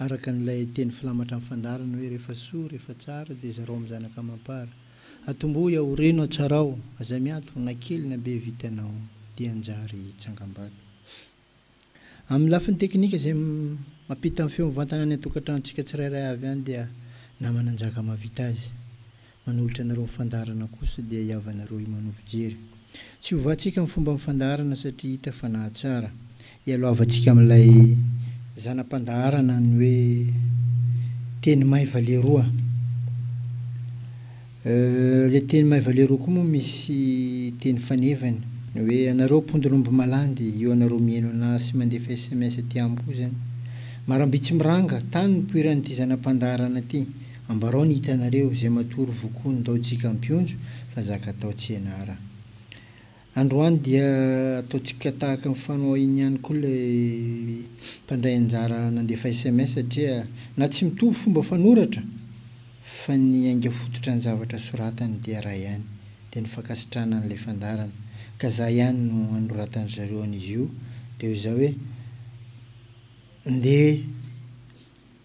Araka an'ilay teny filamatra amin'ny fandaharana hoe rehefa soa, rehefa tsara, dia zarao amin'ny zanaka amam-para. Atombohy aho, reno hatsarao, aza miantona, na kely na be vitanao, dia hanjary tsangambato. Amin'ny lafiny teknika izay mampita ny feo mivantana any an-tokantranontsika tsirairay avy any dia naman'Anjaka mahavita azy. Manolotra anareo ny fandaharana kosa dia hiavanareo himano fijery. Tsy hovatsika ny fomban'ny fandaharana satria hita fa nahatsara. Ialohavantsika amin'ilay zana-pandaharana ny hoe teny may vale roa. Ilay teny may vale roa koa moa misy teny fanevany. Ny hoe anareo mpondin'omby malandy, io anareo mihaino anah sy mandefa sms aty amiko io izany. Maramby tsy miranga, tany no nipoiran'ity zana-pandaharana ity. Ambarao ny hitanareo, izay matory vokoa ny tao tsika ampionjo fa zaka tao tsy enara. Androany dia atao tsika tahaka ny fanao ainy ihany koa ilay mpandray anjara nandefa sms satria na tsy mitovy fomba fanoratra fa ny ainga fototra ny zavatra soratany dia ray ihany. Dia ny fankasitrahana an'ilay fandaharana ka za ihany no anoratany ry zareo an'izy io dia ho za hoe ndeha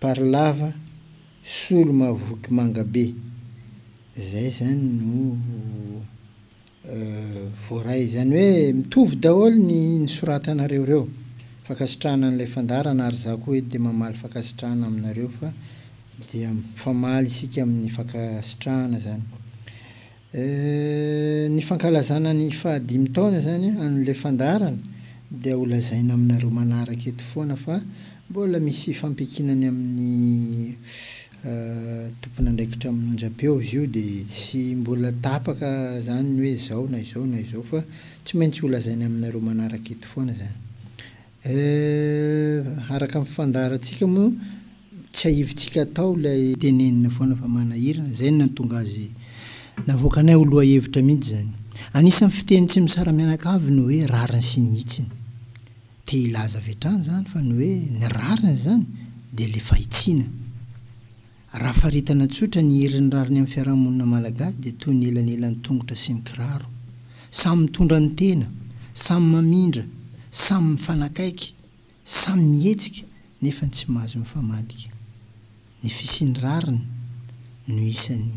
Par lava, solo mavoky manga be. Zay zany no voaray. Izany hoe mitovy daholo ny nisoratanareo reo. Fankasitrahana an'ilay fandaharana ary za koa eto dia mamaly fankasitrahana aminareo fa dia mifamaly isika amin'ny fankasitrahana zany. Ny fankalazana ny faha dimy taona izany an'ilay fandaharana dia ho lazaina aminareo manaraka eto foana fa mbola misy fampiankinany amin'ny tompon'andraikitra amin'ny onjam-peo izy io dia tsy mbola tapaka izany ny hoe izao na izao na izao fa tsy maintsy ho lazaina aminareo manaraka eto foana izany. Eh, araka ny fandaharantsika moa, tsiahivintsika hatao ilay tenenina foana fa manahirana, izay no nahatonga azy navoakanay ho lohahevitra mihitsy izany. Anisan'ny fiteny tsy misara-mianakavy ny hoe rariny sy ny hitsiny. Te hilaza avy hatrany izany fa ny hoe ny rariny izany dia ilay fahitsiana. Raha faritana tsotra ny herin'ny rariny amin'ny fiarahamonina malagasy dia toy ny elanelan'ny tongotra sy ny kiraro. Samy mitondra ny tena, samy mamindra, samy mifanakaiky, samy mihetsika nefa ny tsy mahazo mifamadika. Ny fisian'ny rariny no isan'ny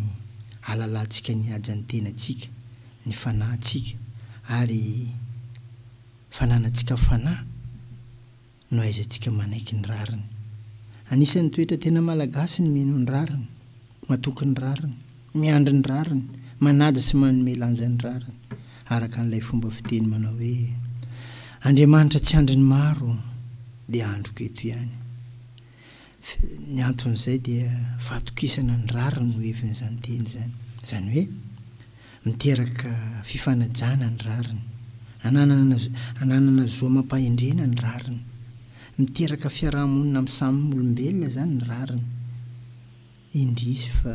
ahalalantsika ny hajan'ny tenantsika, ny fanahintsika ary fananantsika fanahy. no ahaizantsika manaiky ny rariny. Anisan'ny toetra tena malagasy ny mino ny rariny, matoky ny rariny, miandry ny rariny, manaja sy manome lanja ny rariny, araka an'ilay fomba fiteny manao hoe, Andriamanitra tsy andrin'ny maro, dia androko eto ihany. Ny anton'izay dia fahatokisana ny rariny no hevin'izany teny izany. Izany hoe, miteraka fifanajana ny rariny. Ananana, ananana zo amam-pahendrena ny rariny. Miteraka fiaraha-monina amin'ny samy olombelona izany ny rariny. Indrisy fa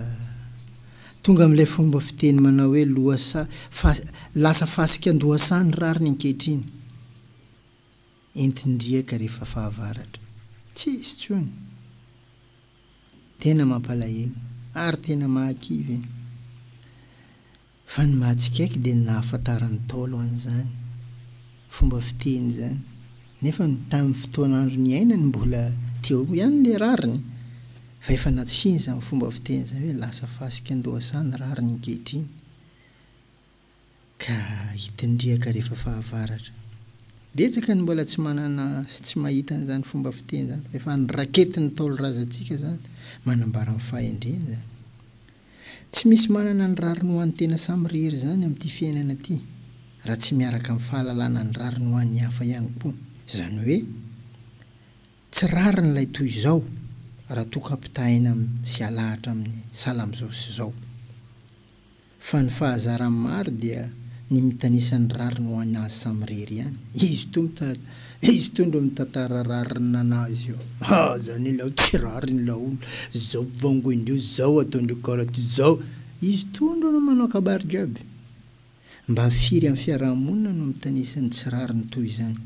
tonga amin'ilay fomba fiteny manao hoe lohasaha, fa, lasa fasikan-dohasaha ny rariny ankehitriny. Entin-driaka rehefa fahavaratra. Tsisy tsony. Tena mampalahelo ary tena mahakivy e! Fa ny mahatsikaiky dia ny nahafantaran'ny Ntaolo an'izany fomba fiteny izany nefa ny tamin'ny fotoana andro niainany mbola teo ihany ilay rariny fa efa nasiany izany fomba fiteny izany hoe lasa fasika an-dohasaha ny rariny ankehitriny. Ka hitindriaka rehefa fahavaratra. Betsaka ny mbola tsy manana sy tsy mahita an'izany fomba fiteny izany fa efa any raketin'ny ntaolo razantsika izany manambara ny fahendreny izany. Tsy misy manana ny rariny ho an'ny tena samirery izany amin'ity fiainana ity raha tsy miaraka amin'ny fahalalana ny rariny ho an'ny hafa ihany koa. Izany hoe tsy rariny ilay toy izao raha toa ka ampitahaina sy alahatra amin'ny sahala amin'izao sy izao. Fa ny fahazaran'ny maro dia ny mitanisa ny rariny ho an' azy samy irery ihany. Izy ito mitady, izy ito ndro mitantara rariny nanazy io. Ha! zany ilao tsy rariny ilao olo, zao bongo indrio, zao ataondrio karaty zao. Izy ito ndro no manao kabary jiaby. Mba firy amin'ny fiaraha-monina no mitanisa ny tsy rariny toy izany.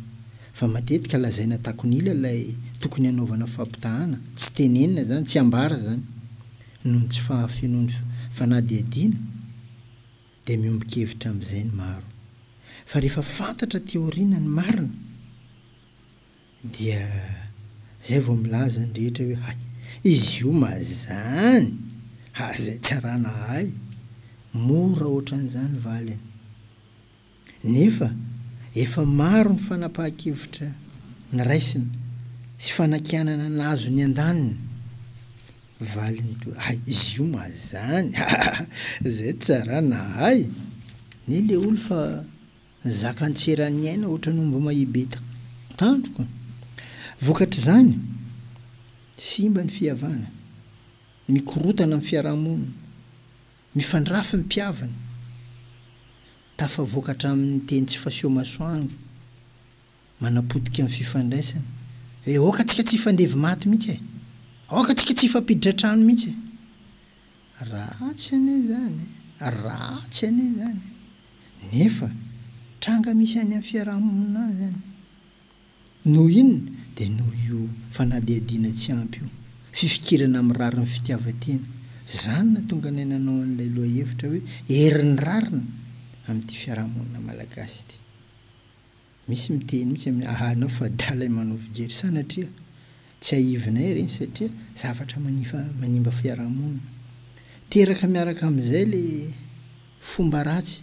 Fa matetika lazaina takon'ila ilay tokony hanaovana fampitahana, tsy tenenina zany, tsy ambara zany. noho ny tsy fahafenoan'ny fanadihadiana dia miombon-kevitra amin'izay ny maro fa rehefa fantatra aty aoriana ny marina dia izay vao milaza ny rehetra hoe hay izy io mazany ary izay tsy arahana hay mora ohatran'izany valiny. Nefa efa maro ny fanapahan-kevitra niraisina sy fanakianana nahazo ny andaniny. Valiny toa hay izy io mazany aa zay tsara nahay ne le olo fa nizaka antseran'ny aina otrany omby mahibeta tandroka. Vokatr'izany, simba ny fihavanana, mikorotana ny fiarahamonina. Mifandrafy ny mpihavana. Tafavoaka hatramin'ny teny tsy faseo masoandro, manapotika ny fifandraisana, hoe aoka antsika tsy hifandevy maty mihitsy e! Aoka antsika tsy hifampiditra trano mihitsy e! Ratsy anie izany e! Ratsy anie izany e! Nefa tranga misy any amin'ny fiarahamonina izany. Noho inona? Dia noho io fanadihadiana tsy ampy io, fifikirana amin'ny rarin'ny fitiavan-tena. Izany nahatonga anay nanao an'ilay lohahevitra hoe herin'ny rariny amin'ity fiarahamonina malagasy ity. Misy miteny mihitsy aminay, aha anao fa dalay manao fijery sanatria. Tsiahivinay ireny satria zavatra manifa manimba fiarahamonina. Teraka miaraka amin'izay ilay fomba ratsy.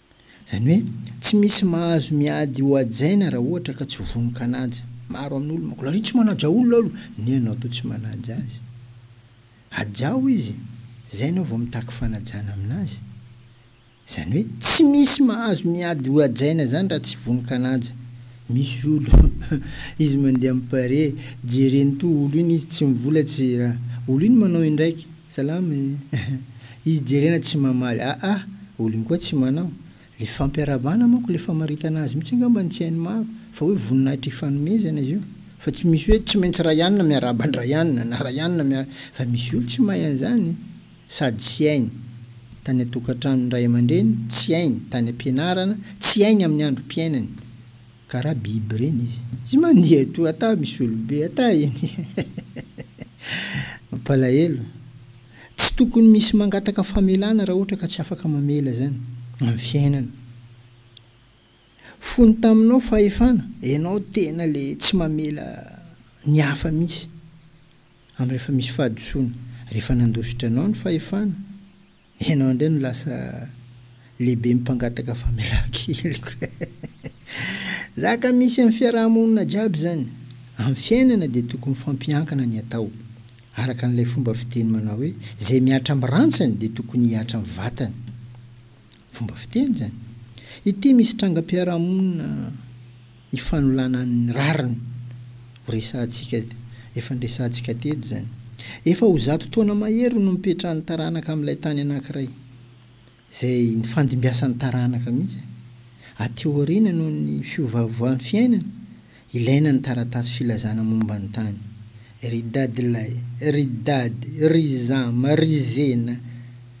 Izany hoe, tsy misy mahazo miady ho hajaina raha ohatra ka tsy vonon-kanaja. Maro amin'olo manko, lariho tsy manaja olona alo, neh anao toa tsy manaja azy. Hajao izy, izay enao vao mitaky fanajana aminazy. Izany hoe, tsy misy mahazo miady ho hajaina izany raha tsy vonon-kanaja. Misy olo izy mandeha am pare jereny to olo iny izy tsy mivolatsy ra olo iny manao indraiky salama e izy jerena tsy mamaly aa olo iny koa tsy manao le fampiarabana manko le famaritana azy mitsy angamba ny tsy hainy maro fa hoe voninahitra ifanomezana izy io fa tsy misy hoe tsy maintsy ray anina miarahaba an dray anina na ray anina miara fa misy olo tsy mahay anzany. sady tsy hainy tany an-tokantranon'ny ray aman-dreniny, tsy hainy tany am-pianarana, tsy hainy amin'ny androm-piainany, ka raha biby ireny izy. Izy mandeha etoa ata misy olobe ata eny mampalahelo. Tsy tokony misy mangataka famelana raha ohatra ka tsy afaka mamela izany amin'ny fiainana. Fony taminao fahefana, ianao tena ilay tsy mamela ny hafa mihitsy. Andro efa misy fahadisoana. Rehefa nandositra anao ny fahefana, ianao indray no lasa lehibe mpangataka famelan-keloka e! Zaka misy amin'ny fiaraha-monina jiaby izany. Amin'ny fiainana dia tokony mifampiankina ny atao. Araka an'ilay fomba fiteny manao hoe, izay mihatra amin'ny rantsany dia tokony hihatra amin'ny vatany. Fomba fiteny izany. Ity misy trangam-piarahamonina ifanolana ny rariny ho resahantsika efa niresahantsika teto izany. Efa ho zato taona mahery no nipetrahan'ny taranaka amin'ilay tany anankiray. Izay nifandimbiasan'ny taranaka mihitsy. Aty aoriana noho ny fiovaovan fiainana, Ilaina ny taratasy filazana momba ny tany. Ry dadilahy, ry dady, ry zama, ry zena,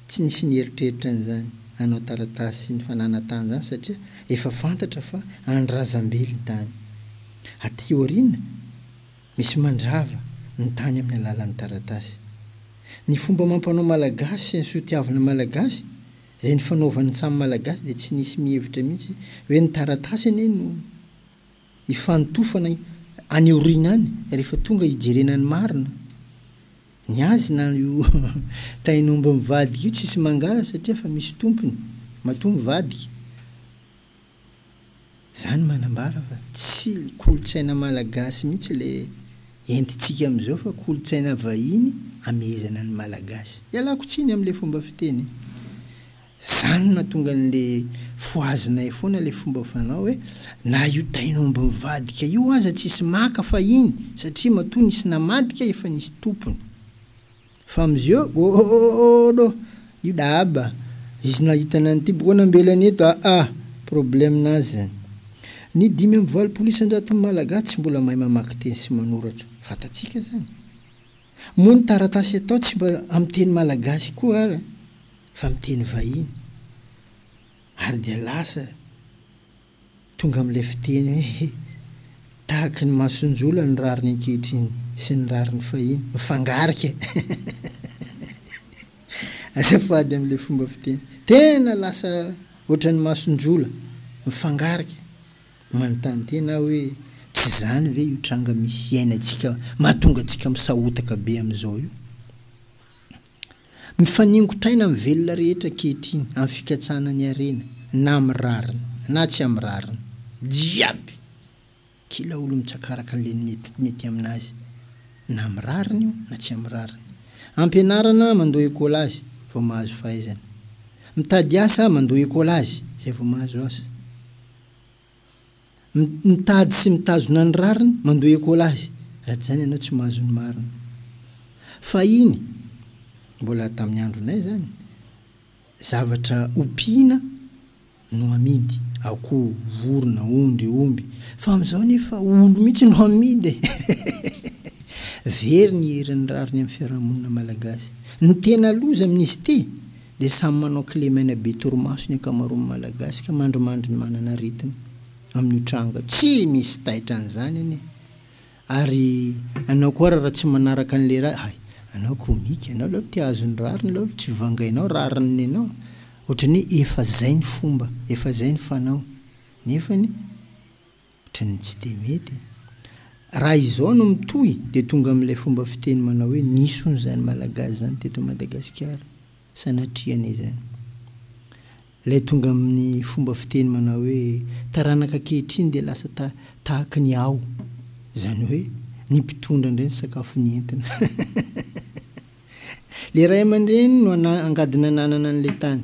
tsy nisy nieritreritra an'izany hanao taratasy ny fananana tany izany satria efa fantatra fa an'ny razambely ny tany. Aty aoriana, misy mandrava ny tany amin'ny alalan'ny taratasy. Ny fomba amam-panao malagasy sy ny soatiavina malagasy izay nifanaovan'ny samy malagasy dia tsy nisy mihevitra mihitsy hoe ny taratasy anie no. hifanotofana any aoriana any rehefa tonga hijerena ny marina. Ny azy na io tain'omby mivadika io tsisy mangala satria efa misy tompony matoa mivadika. Zany manambara fa tsy kolontsaina malagasy mihitsy le entintsika amizao fa kolontsaina vahiny amehezana ny malagasy. Ialako tsiny amle fomba fiteny e. Zany no nahatonga anle fohazinay foana le fomba fanao hoe na io tain'omby mivadika io aza tsisy maka fahiny satria matoa nisy namadika efa nisy tompony fa amzeo oooooodo io dahaba izy nahita anany ty boko nambelany eto aa problème nazy zany ny dimy amby valopolo isanjaton'ny malagasy tsy mbola mahay mamaky teny sy manoratra fantatsika zany Moa ny taratasy atao tsy mba amin'ny teny malagasy koa ary fa amin'ny teny vahiny. Ary dia lasa tonga amin'ilay fiteny hoe tahaky ny masonjola ny rariny ankehitriny sy ny rariny fahiny mifangarika azafady amin'ilay fomba fiteny. Tena lasa ohatran'ny masonjola mifangarika. Manontany tena aho hoe tsy izany ve io tranga misy iainantsika mahatonga antsika misahotaka be amin'izao io? Mifaningotraina amin'ny velona rehetra ankehitriny amin'ny fikatsahana ny harena, na amin'ny rariny na tsy amin'ny rariny, jiaby! Kila olona mitsakaraka an'ilay mety mety amin'azy, na amin'ny rariny io na tsy amin'ny rariny. Ampianarana mandoa école azy vao mahazo fahaizana. Mitady asa mandoa école azy izay vao mahazo asa. Mitady sy mitazona ny rariny, mandoa ekola azy, raha tsy izany ianao tsy mahazo ny marina. Fahiny, mbola tamin'ny andronay izany, zavatra ompiana no amidy, akoho, vorona, ondry, omby, fa amin'izao anefa olo mihitsy no amidy e! Very ny herin'ny rariny amin'ny fiarahamonina malagasy. Ny tena loza amin'izy ity, Dia samy manao kle maina be torimaso ny ankamaroan'ny Malagasy ka mandrimandry ny manana aretina amin'io tranga io. Tsy misy taitra an'izany anie. Ary anao koa ary raha tsy manaraka an'i lehilahy, hay, anao komika, anao laolo te hahazo ny rariny laolo, tsy vangainao rariny ny anao. Ohatran'ny hoe efa zay ny fomba, efa zay ny fanao. Nefany. Tratry ny tsy dia mety e! Raha izao no mitohy dia tonga amin'ilay fomba fiteny manao hoe nison'izany Malagasy izany teto Madagasikara. Sanatria anie izany. Ilay tonga amin'ny fomba fiteny manao hoe taranaka ankehitriny dia lasa ta tahaky ny ao. Izany hoe ny mpitondra indray ny sakafo nentina. Ilay ray aman-dreny no ana angady nananana an'ilay tany.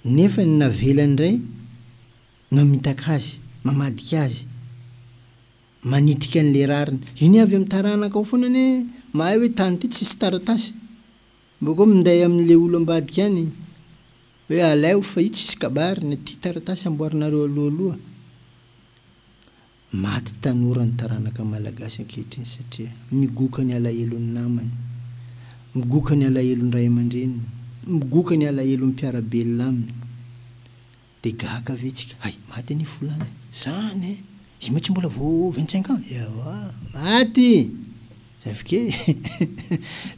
Nefa ny navelany indray Mamitaka azy, mamadika azy, manitrika an'ilay rariny. Io anie avy amin'ny taranakao foana anie, mahay hoe tany ity tsisy taratasy. Bôkô minday amin'ilay olo ambadika any hoe alaivo fa io tsisy kabary, ny aty taratasy amboarinareo alohaloha. Maty tanora ny taranaka malagasy ankehitriny satria migoka ny alahelon'ny namany, migoka ny alahelon'ny ray aman-dreniny, migoka ny alahelon'ny mpiara-belona aminy. Dia gaga ve tsika? Hay, maty anie Folany a! Zany e! Izy moa tsy mbola vao vingt cinq ans? Ewa! Maty! Zavk e!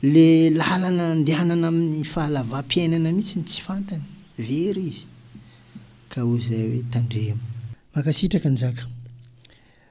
Le lalana andehanana amin'ny fahalavam-piainana mihitsy no tsy fantany! Very izy! Ka hoy izay hoe tandremo! Mankasitraka Njaka.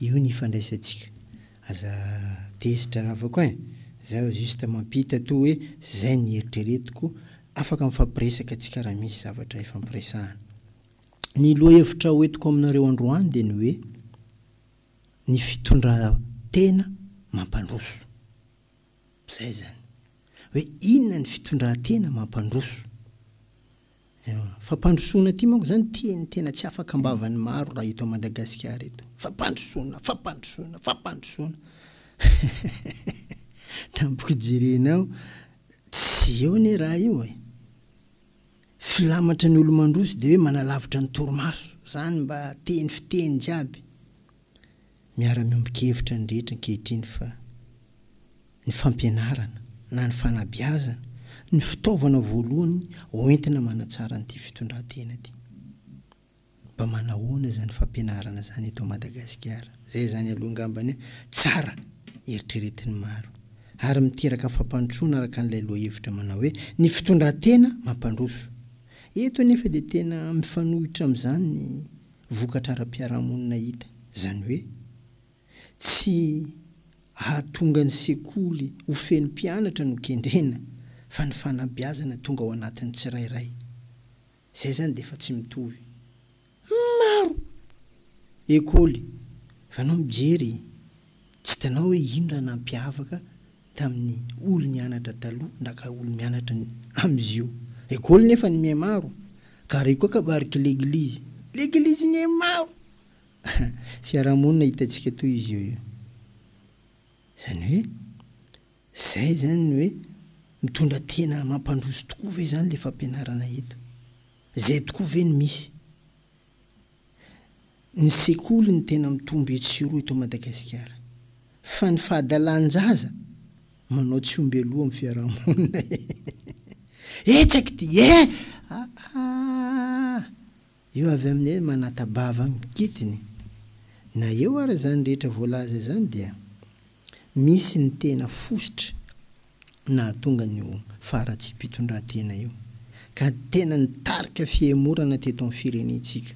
Io ny ifandraisantsika. Aza tezitra ravako ein! Zaho juste mampita toa hoe zay ny eritreretiko, afaka mifampiresaka antsika raha misy zavatra ifampiresahana. Ny lohahevitra ho entiko aminareo androany dia ny hoe, ny fitondran-tena mampandroso. Zay zany. Hoe inona ny fitondran-tena mampandroso. Io fampandrosoana ity manko zany teny tena tsy afaka ambavan'ny maro raha eto Madagasikara eto. Fampandrosoana, fampandrosoana, fampandrosoana. Tampoka jerenao tsy eo anie raha io e. Filamatra ny olo-mandroso dia hoe manalavitra ny torimaso. Zany mba teny fiteny jiaby. Miara-miombon-kevitra ny rehetra ankehitriny fa ny fampianarana na ny fanabeazana no fitaovana voalohany hoentina manatsara an'ity fitondran-tena ity. Mba manahoana izany fampianarana izany eto Madagasikara? Izay izany aloha angambany an, tsara eritreretin'ny maro ary miteraka fampandrosoana araka an'ilay lohahevitra manao hoe ny fitondran-tena mampandroso. Eto anefa dia tena mifanohitra amin'izany ny vokatra ara-piarahamonina hita, izany hoe, tsy ahatonga ny sekoly ho feno mpianatra no kendrena fa ny fanabeazana tonga ao anatin'ny tsirairay. Izay izany dia efa tsy mitovy. Maro! ekoly, fa ianao mijery, tsy hitanao hoe inona nampiavaka tamin'ny olo nianatra taloha na ka olo mianatra amizio école nefa ny mihamaro ka ary koa kabariky l'église l'église mihamaro fiarahamonina hitantsika toy izio io zany hoe zay zany hoe mitondra tena mampandroso tokoa ve zany le fampianarana eto zay tokoa ve no misy ny sekoly no tena mitombo etsy sy eroa eto Madagasikara. Fa ny fahadalan-jaza manao tsy omby loha amin'ny fiaraha-monina ee. Hetsaky ity ee! Aah! Io avy aminay manata-bava mikitiny. Na eo ary izany rehetra voalaza izany dia misy ny tena fositra. nahatonga an'io faharatsiam-pitondrantena io ka tena nitarika fihemorana teto amin'ny firenentsika,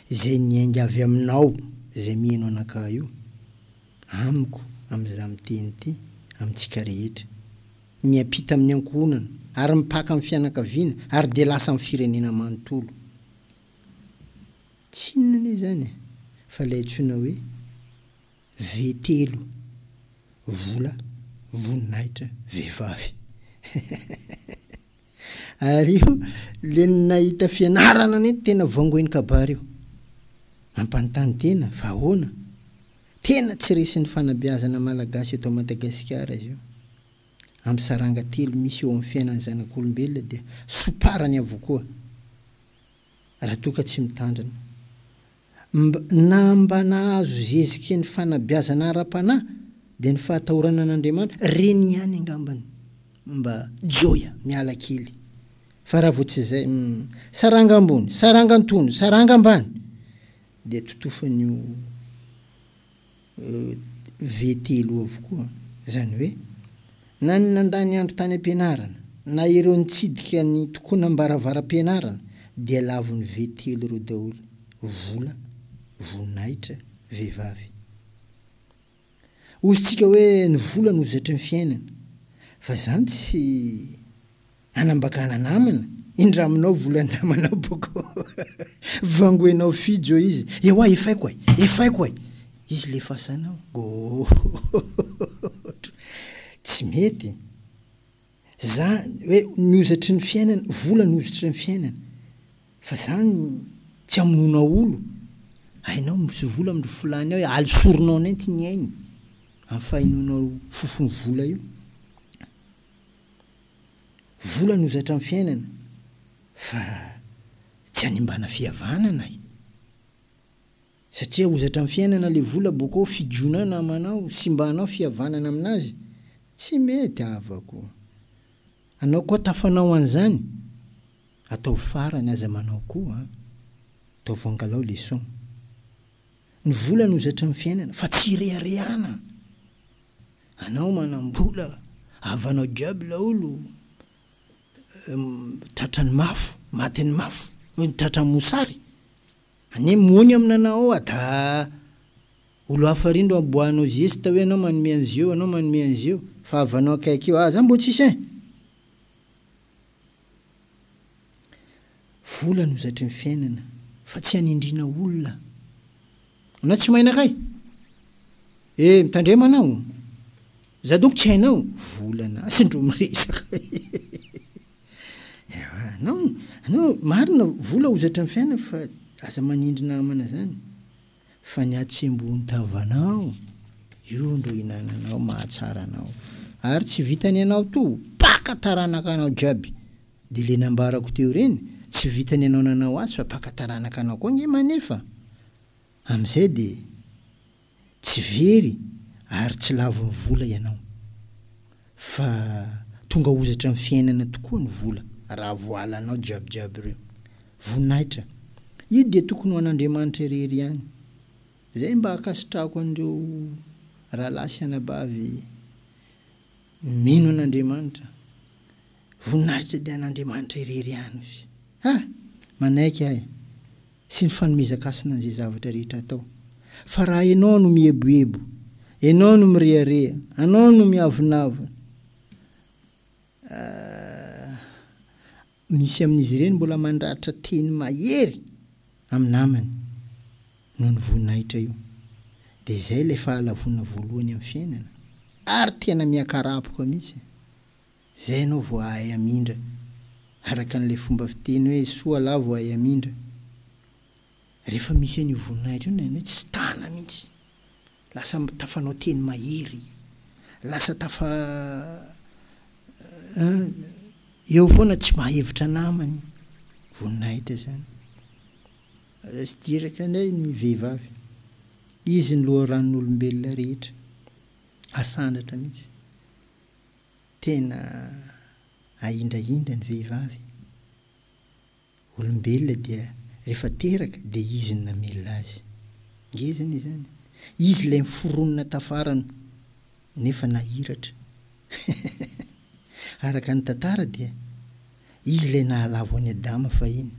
izay niainga avy aminao izay mihaino anakahy io, amiko amin'izaho miteny ity, amintsika rehetra. Miampita amin'ny ankohonana ary mipaka amin'ny fianakaviana ary dia lasa amin'ny firenena manontolo. Tsy inona anie izany e, fa ilay antsoina hoe. Ve telo vola voninahitra vehivavy. Ary io le ny nahita fianarana anie tena vongoin'ny kabary io. Mampanontany tena fa ahoana? Tena tsy resin'ny fanabeazana malagasy eto Madagasikara izy io. Amin'ny saranga telo misy eo amin'ny fiainan'ny zanak'olombelona dia somparany avokoa. raha toa ka tsy mitandrina. Mb na mba nahazo zezike ny fanabeazana ara-panahy dia ny fahatahorana an'Andriamanitra, reny ihany angambany. Mba joia, miala kely. Fa raha vao tsy izay, hum, saranga ambony, saranga antony, saranga ambany, dia totofan'io. VTELO avokoa. Izany hoe, na ny nandany andro tany am-pianarana, na ireo nitsidika ny tokonam-baravaram-pianarana dia lavon'ny VTELO ireo daholo, vola, voninahitra, vehivavy. Hozy-tsika hoe ny vola no zetry ny fiainana, fa izany tsy. Anambakana namana, indra aminao vola namana boko vangoenao fijo izy, ewa efaiko e, efaiko e, izy le fasanao gooootro, tsy mety, za hoe nihozatry ny fiainana, vola nihozotry ny fiainana, fa zany tsy amonoana olo, hainao misy vola amindry filany ao e, aly soronao nenty ny ainy, am fahenoanao fofony vola io. Vola no zatra ny fiainana fa tsy hanimbana fihavanana e! Satria ho zatra ny fiainana le vola boko fidiona namanao, simbanao fihavanana aminazy, tsy mety havako! Anao koa tafanao an'zany? Ataovy farany aza manao koa an! Ataovy angalao leçon! Ny vola no zatry ny fiainana fa tsy ireharehana anao manambola havanao jiaby laolo tratrany mafo matiny mafo noho ny tratra mosary anie mony amina anao oa da olo hafa ry ndro aboahanao zesta hoe anao manome anizeo anao manome anizeo fa havanao akaiky io aza mbo tsisy ein! Vola no zaitry ny fiainana fa tsy hanindriana olona. Anao tsy mahay nakay? E, mitandrema anao. Za donko tsy hainao? Volana azy ndro miresaka. Ewa, anao, anao marina vola hozatry ny fiainana fa aza manindry namana zany. Fa ny hatsembohon'ny tavanao, io ndro hinananao mahatsara anao. Ary tsy vitany anao to, paka taranaka anao jiaby. Dia le nambarako teo ireny, tsy vitany anao nanao azy fa paka taranaka anao koa nge manefa. Amizay dia tsy very ary tsy lavon'ny vola ianao. Fa tonga hozatra amin'ny fiainana tokoa ny vola raha voalanao jiabijiaby ireo. Voninahitra. Io dia tokony ho an'Andriamanitra irery ihany. Izay mba ankasitrahako an'ireo rahalahy sy anabavy mino an'Andriamanitra. Voninahitra dia an'Andriamanitra irery ihany ozy. Ha! Manaiky ahy sy ny fanomezan-kasina an'izay zavatra rehetra atao. Fa raha ianao no mieboebo, ianao no mirehareha, anao no miavonavona, ah, misy amin'izy ireny mbola mandratra teny mahery amin'ny namany noho ny voninahitra io. Dia izay ilay fahalavoana voalohany amin'ny fiainana, ary tena miakarapoka mihitsy. Izay ianao vao hahay hamindra, araka an'ilay fomba fiteny hoe soa lahy vao hay hamindra. Rehefa misy an'io voninahitra io ny anay tsy tana mihitsy. Lasa tafanao teny mahery, lasa tafa eo foana tsy mahevitra namany. Voninahitra izany. Resy diraka indray ny vehivavy. Izy ny loharanon'olombelona rehetra. Asandratra mihitsy. Tena ahindrahindra ny vehivavy e! Olombelona dia rehefa teraka dia izy no namelona azy. Ngezana izany. Izy ilay miforonona tafarany nefa nahiratra. Araka ny tantara dia izy ilay nahalavo an'i Adama fahiny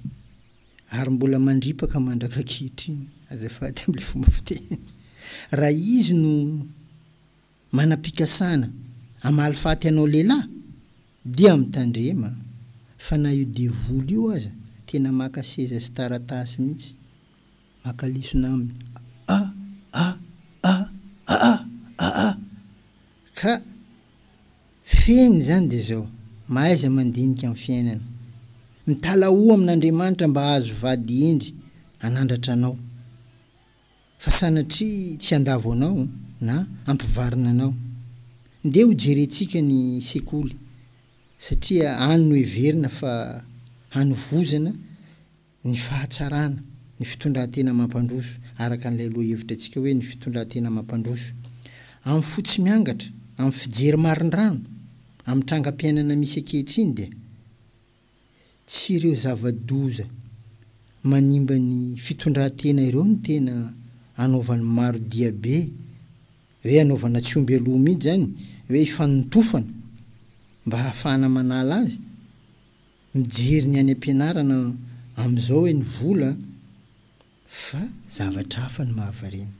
ary mbola mandripaka mandrak'ankehitriny, azafady amin'ilay fomba fiteny, raha izy no Manam-pikasana hamaly faty anao lehilahy? Dia mitandrema fa na io devoly io aza tena maka seza sy taratasy mihitsy. Maka lesona aminy a a a a a a a! Ka fehiny izany dia izao, mahaiza mandinika ny fiainana. Mitalahoa amin'Andriamanitra mba hahazo vady hendry hanandratra anao. fa sanatria tsy handavo anao na hampivarina anao. Ndeha hojerentsika ny sekoly satria any no heverina fa hanovozana ny fahatsarana ny fitondran-tena mampandroso araka an'ilay lohahevitra antsika hoe ny fitondran-tena mampandroso. Amin'ny fo tsy miangatra, amin'ny fijery marindrano amin'ny trangam-piainana misy ankehitriny dia. tsy ireo zava-doza manimba ny fitondran-tena ireo no tena anaovan'ny maro diabe, hoe anaovana tsy omby aloha mihitsy izany, hoe ifanontofana mba hahafahana manala azy, mijery ny any am-pianarana amin'izao hoe ny vola Fa zavatra hafa no mahavariana.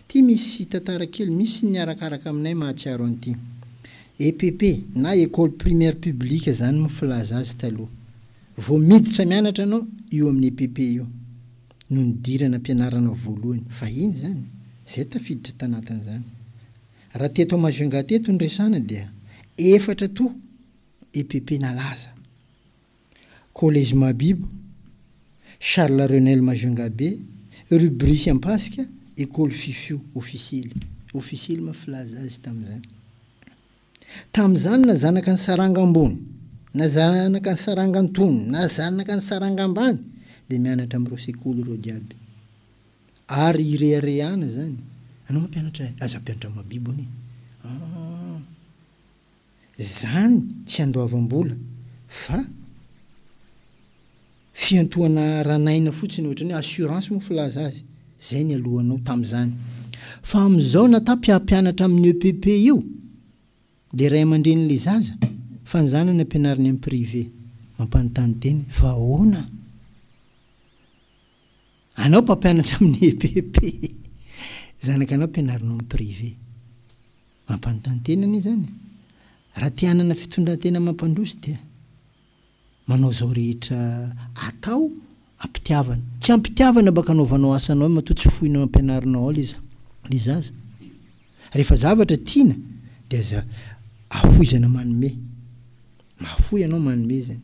Ity misy tantara kely misy ny arakaraka aminay mahatsiaro an'ity. EPP na Ecole Primaire Publique zany mo filaza azy taloha. Vao miditra mianatra anao io amin'ny EPP io no nidirana ampianaranao voalohany. Vahiny zany. Zay tafiditra tanatin'izany. Raha teto à Majunga teto no resana dia efatra toa EPP nalaza. Collège Mahabibo, Charles Renel Majungabe, rue Brice Ampasika, Ecole Fifio, Ofisily. Ofisily moa filaza azy tamin'izany. Tamin'izany na zanaka ny saranga ambony, na zanaka ny saranga antonony, na zanaka ny saranga ambany dia mianatra amin'ireo sekoly ireo jiaby. Ary ireharehana izany. Ianao mampianatra e! Aza hampianatra Mahabibo anie. An! Izany tsy andoavam-bola fa fiantohana aran'aina fotsiny ohatry ny hoe assurance moa filaza azy. Izay ny alohanao tamin'izany. Fa amin'izao na ta mpiampianatra amin'ny EPP io dia ray aman-drenin'ilay zaza fa ny zanany ampianariny amin'ny privé. Mampanontany tena e. Fa ahoana? Anao mpampianatra amin'ny EPP, zanakanao ampianarinao amin'ny privé. Mampanontany tena anie izany. Raha te hanana fitondran-tena mampandroso dia manao izao rehetra atao am-pitiavana. Tsy am-pitiavana mba kanaovanao asanao eo matoa tsy foinao ampianarinao ao ilay ilay zaza. Rehefa zavatra tiana dia aza afoizana manome. Mahafoy ianao manome izany.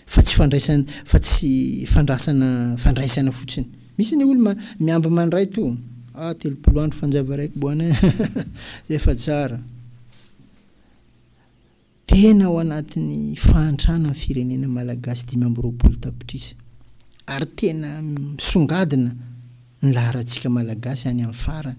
Fa tsy fandraisana fa tsy fandrasana fandraisana fotsiny. Misy anie olo ma miamby mandray to ah telopolo andro fanjava raiko boana zay fa tsara. Tena ao anatin'ny fahantrana ny firenena malagasy dimy amby roapolo tapitrisa ary tena misongadina ny laharantsika malagasy any amin'ny farany.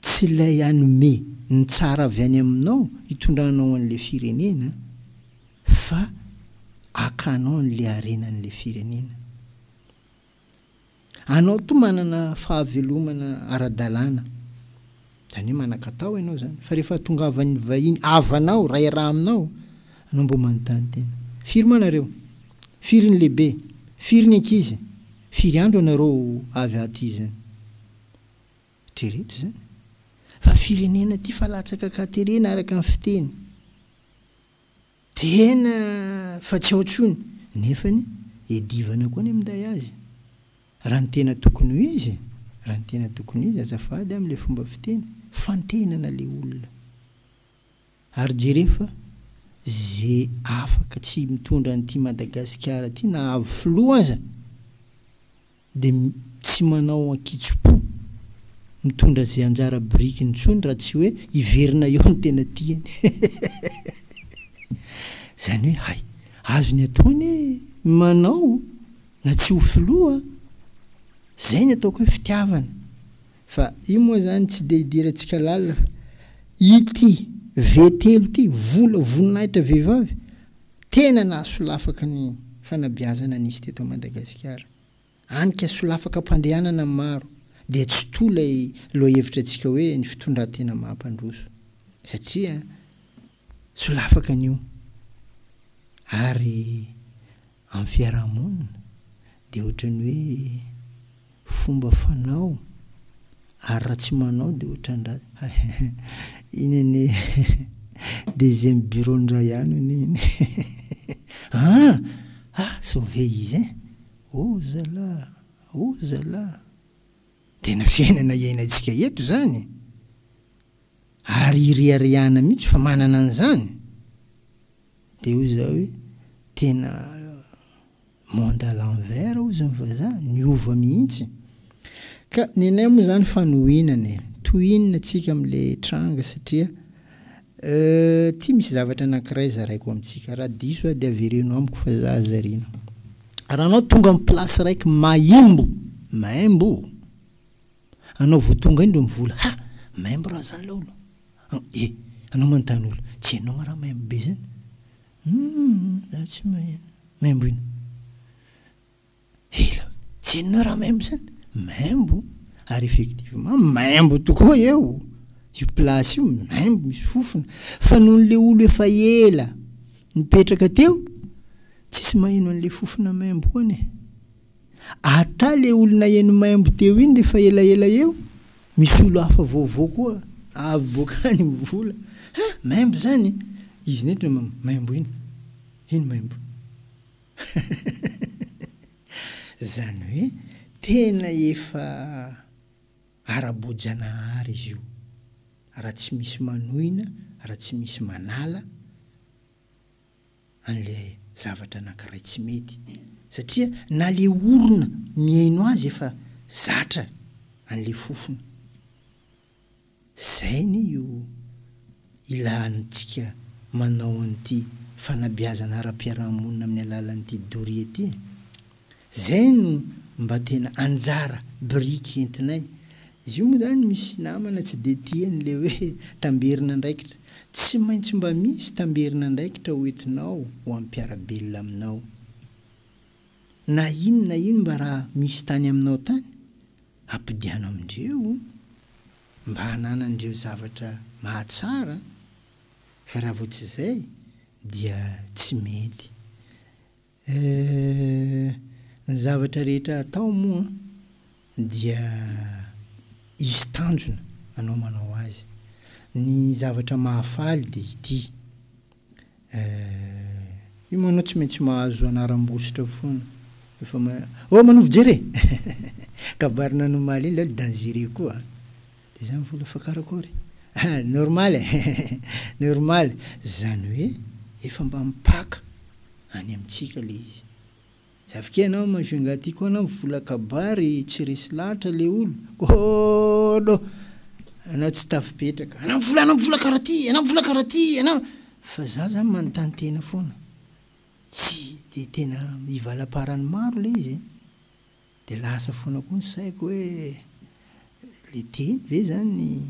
Tsy ilay hanome ny tsara avy any aminao hitondranao an'ilay firenena, fa hakanao an'ilay harenan'ilay firenena. Anao toa manana fahavelomana ara-dalàna, izany hoe manan-katao ianao izany, fa rehefa hatongavan'ny vahiny havanao, rahiraha aminao, anao mbola manontany tena. Firy moa nareo? Firy ny lehibe? Firy ny ankizy? Firy andro ianareo avy aty izany? Eritrereto izany fa firenena tia fa latsaka katerena araka ny fiteny tena fa tsy ao tsony nefany edivana koa ny minday azy raha ny tena tokony ho izy raha ny tena tokony ho izy azafady amle fomba fiteny fantenana le olona Ary jereo fa ze afaka tsy mitondra an'ity Madagasikara ty na avo filoha aza de tsy manao ankitsopo mitondra ze anjara birikiny tsony raha tsy hoe hiverina eo ny tena tiany zany hoe hay azony atao anie ny manao na tsy ho filoha zay ny ataoko hoe fitiavana Fa io moa zany tsy dia idirantsika lalina fa ity ve telo ity vola voninahitra vehivavy tena nahasolafaka ny fanabeazana nisy teto Madagasikara. Anika solafaka am-pandehanana maro dia tsy toa ilay lohahevitra antsika hoe ny fitondran-tena mahampandroso satria solafaka anio ary Amin'ny fiarahamonina dia ohatran'ny hoe fomba fanao ary raha tsy manao dia ohatran-dra iny anie deuxième bureau-ndra ihany hono iny aa ah sauver izy ein! oh zala oh zala tena fiainana iainantsika eto izany ary iriariana mihitsy fa manana an'izany. Dia hoy za hoe, tena monde à l'envers hozy ny vazaha, niova mihitsy. Ka ny anay moa zany fanohinana e, toy inona tsika amle tranga satria ty misy zavatra anakiray zaraiko amitsika, raha diso aho dia avereno amiko fa za zarina. Raha anao tonga am place raiky maimbo, maimbo! Anao vao tonga indro mivola ha! Maimbo raha zany laolo an! E! Anao manontany olo, tsy hainao ma raha maimbo be zany? Humm! Za tsy maheno! Maimbo ino? Ela! Tsy hainonao raha maimbo zany? Maimbo! Ary effectivement maimbo tokoa eo! Io place io maimbo misy fofona fa nohon'ny le olo efa ela nipetraka teo tsisy maheno an'le fofona maimbo koa anie! Ata le olona heno maimbo teo iny refa elaela eo misy olo hafa vaovao koa avy boaka any mivola ha maimbo zany izy neto no maimbo iny iny maimbo zany hoe tena efa ara-boajanahary izy io ra tsy misy manohina ra tsy misy manala an'ilay zavatra anankiray tsy mety, satria na le orona mihaino azy efa zatra an'le fofona. Zay anie io ilaantsika manao an'ity fanabeazana ara-piarahamonina amin'ny alalan'ity doria ity e! Zay no mba tena anjara biriky entinay. Izy io moa zany misy namana tsy dia tia an'ilay hoe tamberin'andraikitra. Tsy maintsy mba misy tamberin'andraikitra ho entinao ho an'ny mpiara-belona aminao. Na ino na ino mba raha misy tany aminao tany, ampodiano amindreo mba hananandreo zavatra mahatsara fa raha vao tsy zay dia tsy mety. Eh, ny zavatra rehetra atao moa dia hisy tanjona anao manao azy. Ny zavatra mahafaly dia ity, eh, io moa ianao tsy maintsy mahazo anaram-bositra foana rehefa ma-, oh, manovo jery e! Kabarina anomaly iny ilay hoe dangereux koa an! Dia izany vola fa karakory? Normal e! Normal! Izany hoe efa mba mipaka any amintsika ilay izy. Zavokay ianao Majou Ingahy ty koa anao vola kabary tsy resy lahatra le olo. Kôôôôdô! Anao tsy tafipetraka. Anao vola anao vola karaha ty, anao vola karaha ty, anao. Fa za zany manontany tena foana. Tsy dia tena ivalam-paran'ny maro ilay izy e! Dia lasa foana koa ny saiko hoe le teny ve zany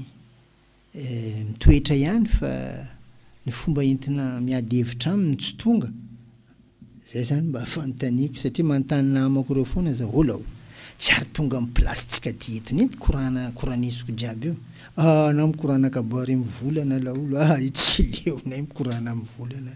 mitoetra ihany fa ny fomba entina miady hevitra aminy no tsy tonga? Zay zany mba fanontaniako satria manontany namako reo foana za hola o! Tsy ary tonga am place tsika aty eto nety korana koranesiko jiaby io ah na mikorana kabary am volana laolo ah io tsy leonay mikorana am volana.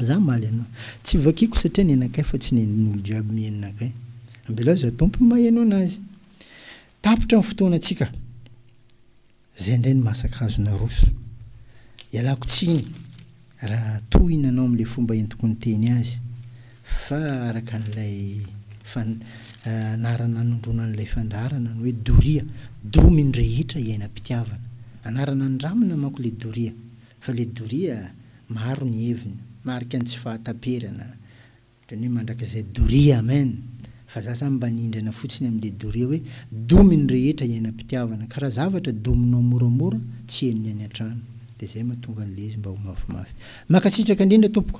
Za hamaly anao. Tsy vakiko satria nenakay fa tsy nen'olo jiaby mienina kay. Ambelao za Tompo ny maheno anazy. Tapitra ny fotoanantsika. Zay ndray ny masakazo naroso. Ialako tsiny raha tohina anao amin'ilay fomba entiko niteny azy fa araka an'ilay fan anarana nanondroana an'ilay fandaharana ny hoe doria, domin'ny rehetra iainam-pitiavana. Anarana nindramina manko le doria. Fa le doria maro ny heviny, marika ny tsy fahataperana, otrany hoe mandrakizay doria amen, fa za zany mba nindrana fotsiny am le doria hoe domy ny rehetra hiainam-pitiavana, ka ra zavatra dominao moramora tsy henony any antrano, de zay matonga anle izy mba ho mafimafy. Makasitraka indrindra tompoko.